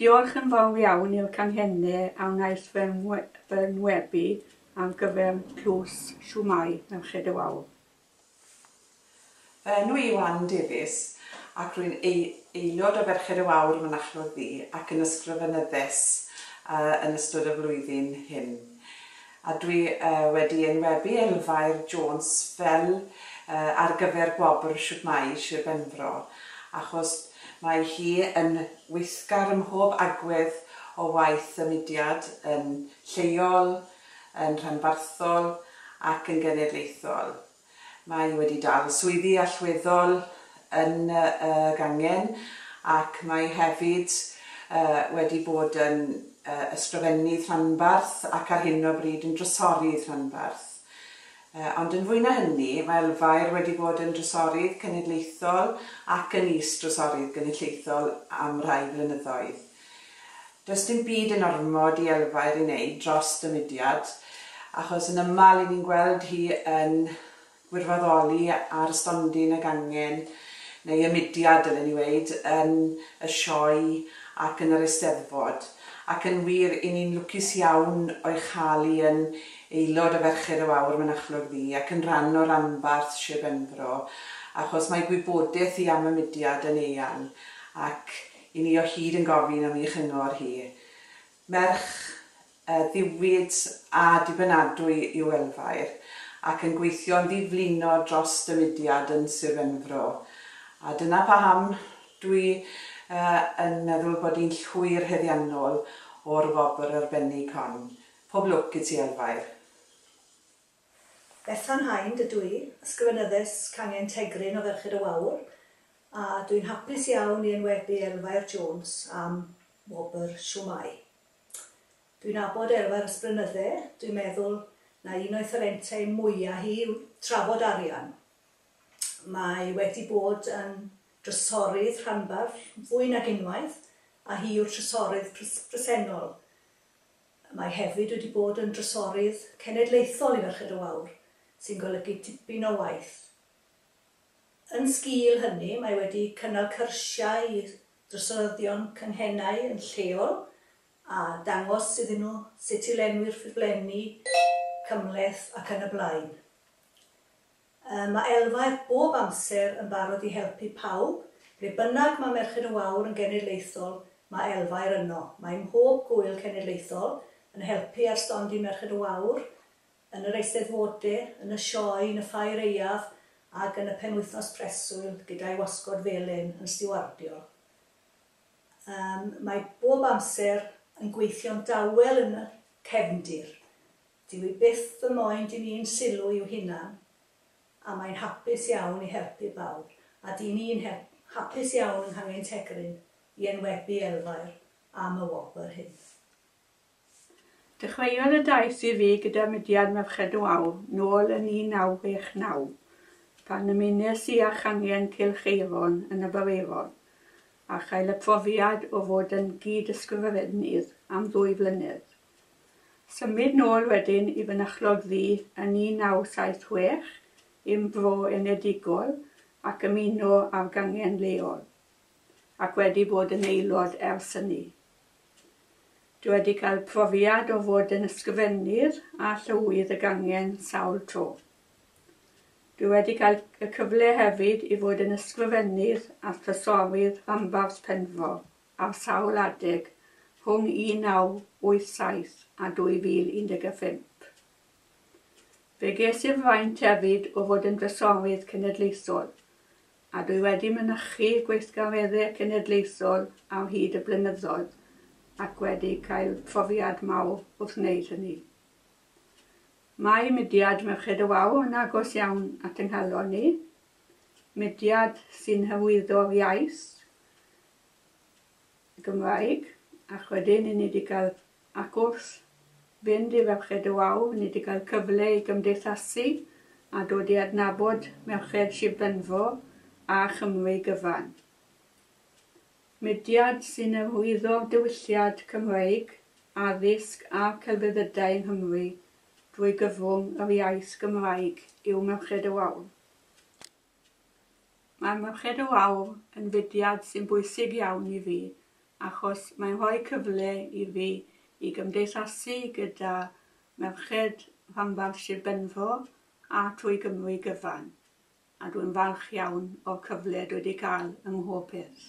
Diolch yn fawr iawn i'r canghenne a wnaeth fy ngwebu ar gyfer tlws Siwmai Merched y Wawr. Fy enw i yw Ann Davies ac rwy'n aelod o Ferched y Wawr Mynachlog Ddu ac yn ysgrifenyddes yn ystod y flwyddyn hyn. A dwi wedi enwebu Elfair Jones fel ar gyfer gwobr Shwtmai Sir Benfro achos mae hi yn weithgar ym mhob agwedd o waith y mudiad, yn lleol, yn rhanbarthol ac yn genedlaethol. Mae wedi dal swyddi allweddol yn y gangen ac mae hefyd wedi bod yn Ysgrifennydd Rhanbarth ac ar hyn o bryd yn Drysorydd Rhanbarth. Ond yn fwy na hynny, mae Elfair wedi bod yn Drysorydd Cenedlaethol ac yn Is-Drysorydd Genedlaethol am rai blynyddoedd. Does dim byd yn ormod i Elfair i wneud dros y mudiad achos yn aml i ni'n gweld hi yn gwirfoddoli ar y stondin ag angen, neu y mudiad dylen ni weud, yn y sioe ac yn yr Eisteddfod. Ac yn wir, i ni'n lwcus iawn o'i chael hi yn aelod o Ferched y Wawr Mynachlog Ddu ac yn rhan o ranbarth Sir Benfro achos mae gwybodaeth hi am y mudiad yn eang ac I ni o hyd yn gofyn am ei chyngor hi. Merch ddiwyd a dibynadwy yw Elfair, ac yn gweithio'n ddi-flino dros y mudiad yn Sir Benfro. A dyna paham dwi yn meddwl bod hi'n llwyr heddiannol o'r wobr arbennig hon. Pob lwc i ti Elfair. Bethan Hind ydw i, Ysgrifenyddes Cangen Tegryn o Ferched y Wawr, a dw i'n hapus iawn i enwebu Elfair Jones am wobr Shwmae. Dw i'n nabod Elfair ers blynydde, dw i'n meddwl na un o'i thalentau mwya hi yw trafod arian. Mae wedi bod yn drysorydd rhanbarth fwy nag unwaith, a hi yw'r trysorydd presennol. Mae hefyd wedi bod yn Drysorydd Cenedlaethol i Ferched y Wawr, sy'n golygu tipyn o waith. Yn sgîl hynny, mae wedi cynnal cyrsiau i Drysoryddion Cynghennau yn lleol a dangos iddyn nhw sut i lenwi'r ffurflenni cymhleth ac yn y blaen. Yy, ma' Elfaeth bob amser yn barod i helpu pawb, ble bynnag ma' Merched y Wawr yn genedlaethol, ma' Elfaer yno. Mae mhob Gŵyl Cenedlaethol yn helpu ar stondin Merched y Wawr, yn yr Eisteddfode, yn y Sioe, yn y Ffair Aeaf, ag yn y Penwythnos Preswyl, gyda'i wasgod felyn yn stiwardio. Yym, mae bob amser yn gweithio'n dawel yn y cefndir. Dyw hi byth ddim moyn dyn ni'n sylw i'w hunan, a mae'n hapus iawn i helpu bawb, a dyn ni'n hapus iawn yng Nghangen Tegryn i enwebu Elfair am y wobr hyn. Dechreuodd y daith i fi gyda mudiad Merched y Wawr nôl yn 1969, pan ymunes i â changen Cylch Eiron yn y Bareirod, a chael y profiad o fod yn gyd-ysgrifennydd am ddwy flynedd. Symud nôl wedyn i fynychlodd ddu yn 1976 i'm fro enedigol ac ymuno â'r gangen leol, ac wedi bod yn aelod ers hynny. Dw wedi cael profiad o fod yn ysgrifennydd a llywydd y gangen sawl tro. Dw wedi cael y cyfle hefyd i fod yn ysgrifennydd a thrysorydd rhanbarth Penfro. ar sawl adeg rhwng 1987 a 2015. Fe ges i'r fraint hefyd o fod yn Drysorydd Cenedlaethol, a dwi wedi mynychu gweithgareddau cenedlaethol ar hyd y blynyddoedd ac wedi cael profiad mawr wrth wneud hynny. Mae mudiad Merched y Wawr yn agos iawn at yng nghalon i, mudiad sy'n hyrwyddo'r iaith, Gymraeg, ac wedyn i ni 'di gael ac wrth fynd i Ferched y Wawr, ni 'di gael cyfle i gymdeithasu a dod i adnabod merched Shir Benfro a Chymru gyfan. Mudiad sy'n arwyddo diwylliad Cymreig, addysg a celfyddydau yng Nghymru drwy gyfrwng yr iaith Gymraeg yw Merched y Wawr. Mae Merched y Wawr yn fudiad sy'n bwysig iawn i fi achos mae'n rhoi cyfle i fi i gymdeithasu gyda merched rhanbarth Sir Benfro a thrwy Gymru gyfan, a dwi'n falch iawn o'r cyfle dwi 'di cael ym mhob peth.